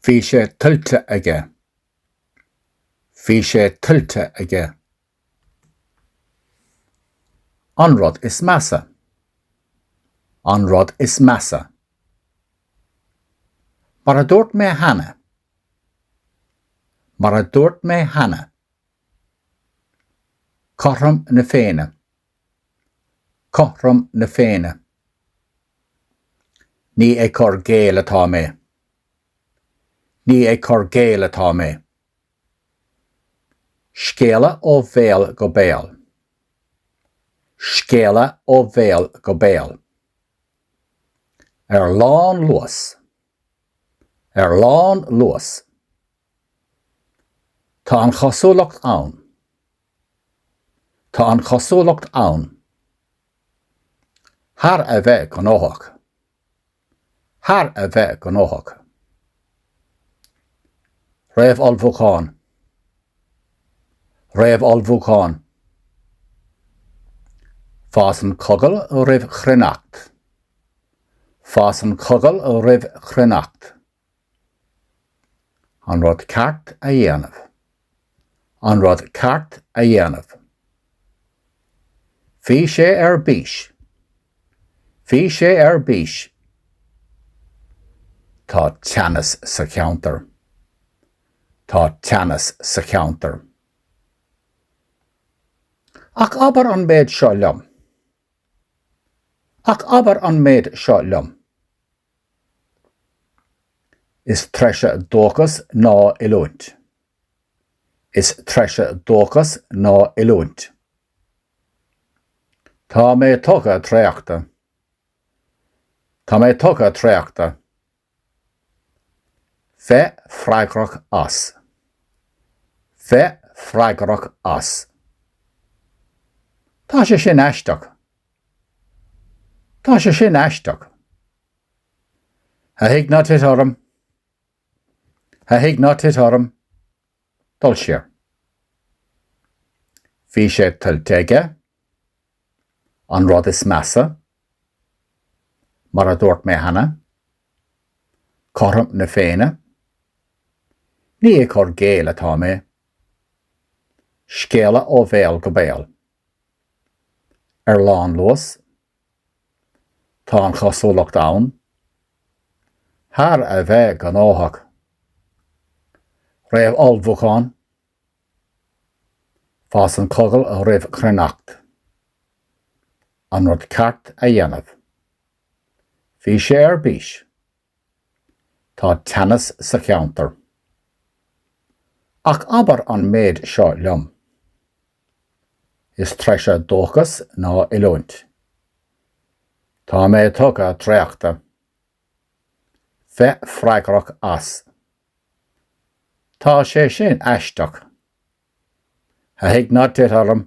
Bhí sé tuillte aige. Bhí sé tuillte aige. An rud is measa. An rud is measa. Mar a dúirt mé cheana. Mar a dúirt mé cheana. Cothrom na Féinne. Cothrom na Féinne. Ní ag cur i gcéill atá mé. Ní ag cur i gcéill atá mé. Scéala ó bhéal go béal. Scéala ó bhéal go béal. Ar lánluas. Ar lánluas. Tá an chosúlacht ann. Tá an chosúlacht ann, thar a bheith gnóthach, thar a bheith gnóthach. Réamhullmhúchán, réamhullmhúchán. Fásann cogal roimh chruithneacht, fásann cogal roimh chruithneacht. An rud ceart a dhéanamh. An rud ceart a dhéanamh. Bhí sé ar bís. Bhí sé ar bís. Tá teannas sa cheantar. Tá teannas sa cheantar. Ach abair an méid seo liom. Ach abair an méid seo liom. Is treise dóchas ná oiliúint. Is treise dúchas ná oiliúint. Tá mé tugtha traochta. Tá mé tugtha traochta. Bheith freagrach as. Bheith freagrach as. Tá sé sin aisteach. Tá sé sin aisteach. A Thig Ná Tit Orm A Thig Ná Tit Orm, dul siar. Bhí sé tuillte aige, an rud is measa, mar a dúirt mé cheana, cothrom na Féinne, ní ag cur i gcéill atá mé, scéala ó bhéal go béal. ar lánluas, tá an chosúlacht ann, thar a bheith gnóthach. Réamhullmhúchán Fásann cogal roimh chruithneacht. An rud ceart a dhéanamh. Bhí sé ar bís Tá teannas sa cheantar. Ach abair an méid seo liom. Is treise dúchas ná oiliúint. Tá mé tugtha traochta. Bheith freagrach as. Tá sé sin aisteach. A thigh ná tit orm.